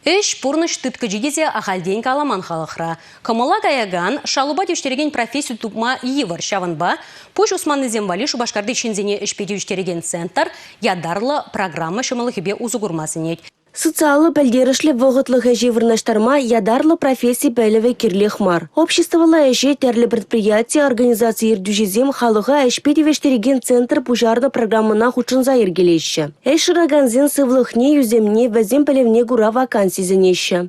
Ӗҫ, пурнӑҫ тыткӑчи тесе ахальтен каламан халӑхра. Кӑмӑла каякан, шалупа тивӗҫтерекен професси тупма йывӑр. Ҫавӑнпа пуҫ усманнисем валли Шупашкарти ҫынсене ӗҫпе тивӗҫтерекен центр ятарлӑ программа ҫӑмӑллӑхӗпе усӑ курма сӗнет. Социаллӑ пӗлтерӗшлӗ вӑхӑтлӑх ӗҫе вырнаҫтарма ятарлӑ професси пӗлӗвӗ кирлех мар. Обществӑлла ӗҫе тӗрлӗ предприяти, организаци ертӳҫисем халӑха ӗҫпе тивӗҫтерекен центр пуҫарнӑ программӑна хутшӑнса йӗркелеҫҫӗ. Ӗҫ шыракансен сывлӑхне, ӳсӗмне, вӗсен пӗлӗвне кура ваканси сӗнеҫҫӗ.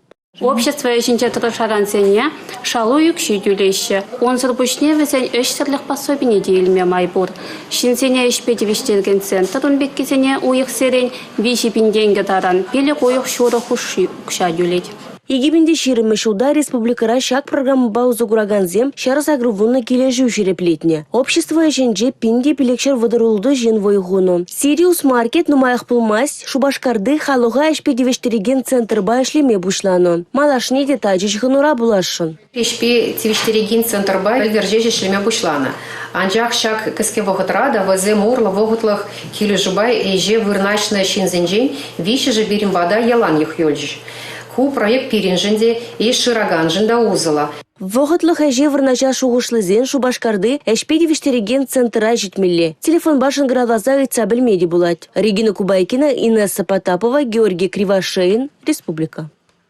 Общество ӗҫӗнче тӑрӑшакансене шалу укҫи тӳлеҫҫӗ. Унсӑр пуҫне вӗсен ӗҫсӗрлӗх пособине те илме май пур. Ҫынсене ӗҫпе тивӗҫтерекен центр ун пеккисене уйӑхсерен виҫӗ пин тенкӗ таран пилӗк уйӑх ҫурӑ хушши укҫа тӳлет. 2020 ҫулта республикӑра ҫак программӑпа усӑ куракансем ҫар сакӑрвуннӑ килӗшӳ ҫирӗплетнӗ. Общество ӗҫӗнче пин те пилӗкҫӗр вӑтӑрултӑ ҫын вӑй хунӑ. Сириус Маркет нумаях пулмасть Шупашкарти халӑха ӗҫпе тивӗҫтерекен центрпа ӗҫлеме пуҫланӑ. Малашне те тачӑ ҫыхӑнура пуласшӑн. Ӗҫпе тивӗҫтерекен центрпа ӗлкӗрчеҫ ӗҫлеме пуҫланӑ. Анчах ҫак кӗске вӑхӑтра та вӗсем урлӑ вӑхӑтлӑх килӗшӳпе ӗҫе вырнаҫнӑ ҫынсенчен виҫҫӗшӗ пирӗн пата ялан юхюлчӗҫ. Ку проект пирӗншӗн те, ӗҫ шыраканшӑн та усӑллӑ. Вӑхӑтлӑх ӗҫе вырнаҫа шухӑшлисен Шупашкарти ӗҫпе тивӗҫтерекен центра ҫитмелле. Телефонпа шӑнкӑравласа ыйтса пӗлме те пулать. Регина Кубайкина, Инесса Потапова, Георгий Кривошеин, Республика.